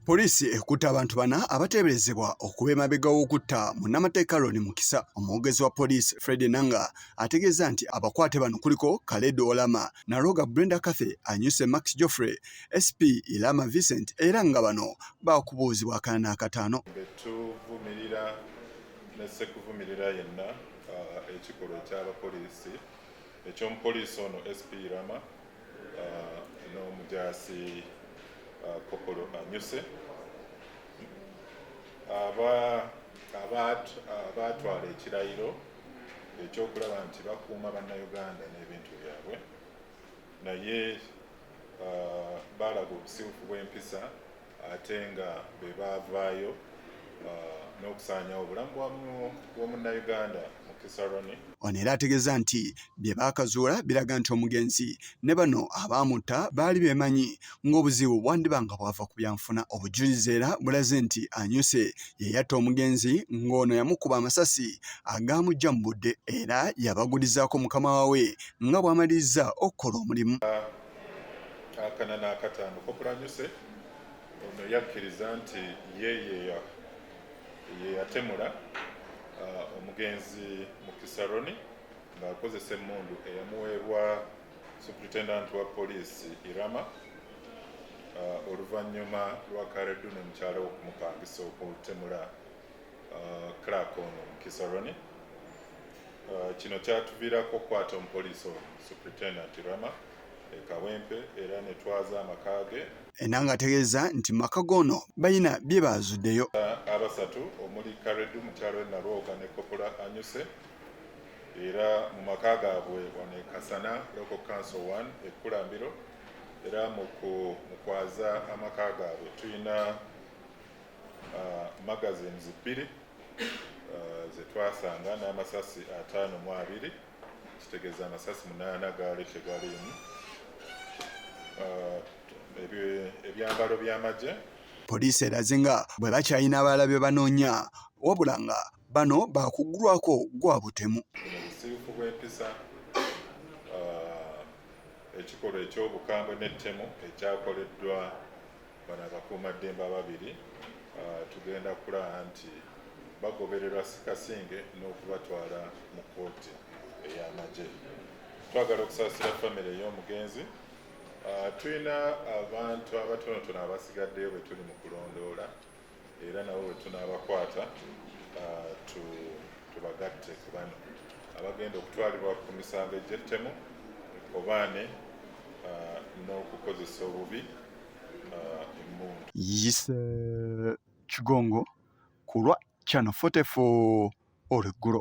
Poliisi ekutte abantu bana abateeberezebwa okuba emabega w'okutta munnamateeka Ronnie Mukisa. Omwogezi wa poliisi Fred Nanga ategeezza nti abakwate bano kuliko Khaled Olama, Naroga Brenda Cathy, Anyuse Max Geoffrey, SP Ilama Vincent era nga bano baakubuuzibwa akana n'akataano. Tuvumirira ne ssekuvumirira yenna uh, ekikolwa eky'abapoliisi eky'omupoliisi ono SP Ilama n'omujaasi kopolo anyuse abaatwala ekirayiro ekyokulaba nti bakuuma bannayuganda n'ebintu byabwe naye baalaga obusiwufu bw'empisa ate nga be baavaayo n'okusaanyawo obulamu bw'omunnayuganda Mukisa Ronnie. Ono era ategeeza nti bye baakazuula biraga nti omugenzi ne bano abaamutta baali beemanyi ng'obuzibu bwandiba nga bwava ku byanfuna. Obujulizi era bulaze nti Anyuse ye yatta omugenzi ng'ono yamukuba amasasi agaamujja mu budde era yabagulizaako mukama waawe nga bw'amalirizza okukola omulimu. akana n'akataano kokulanyuse ono yakkiriza nti ye yeyatemula uh, omugenzi mukisaroni ng'akozesa emmundu eyamuweebwa superintendent wa poliisi irama uh, oluvannyuma lwa karedduna omukyala okumupangisa okumutemula clark ono mukisa rone uh, kino kyatuviirako okukwata omupoliisi ono superintendent rama ekawempe era ne twaza amaka ge ena ng'ategeeza nti maka goono balina bye baazuddeyo uh, abasatu omuli karedu mukyalo we nalwoga ne kopola anyuse era mu maka gaabwe wano ekasana local council 1 ekkulambiro era mu kwaza amaka gaabwe tulina uh, magazines bbiri uh, ze twasanga n'amasasi ataano mu abiri kitegeeza amasasi munaana gaali tegaliimu uh, ebyambalo by'amagye poliisi eraze nga bwe bakyalina abalala bye banoonya wabula nga bano baakuggulwako gwa butemu. Obusirifu bw'empisa, uh, ekikolwa eky'obukambwe n'ettemu ekyakoleddwa bano abakuumaddembe ababiri uh, tugenda kulaba nti bagobererwa sikasinge n'okubatwala mu kkooti ey'amagye. Twagala okusaasira famire ey'omugenzi. Uh, tulina abantu abatonotono abasigaddeyo bwe tuli mu kulondoola era nabo bwe tunaabakwata ah, tubagatte ku bano abagenda okutwalibwa ku misango egy'ettemu obaane ah, n'okukozesa obubi ah, emmundu yise kigongo ku lwa channel 44 olweggulo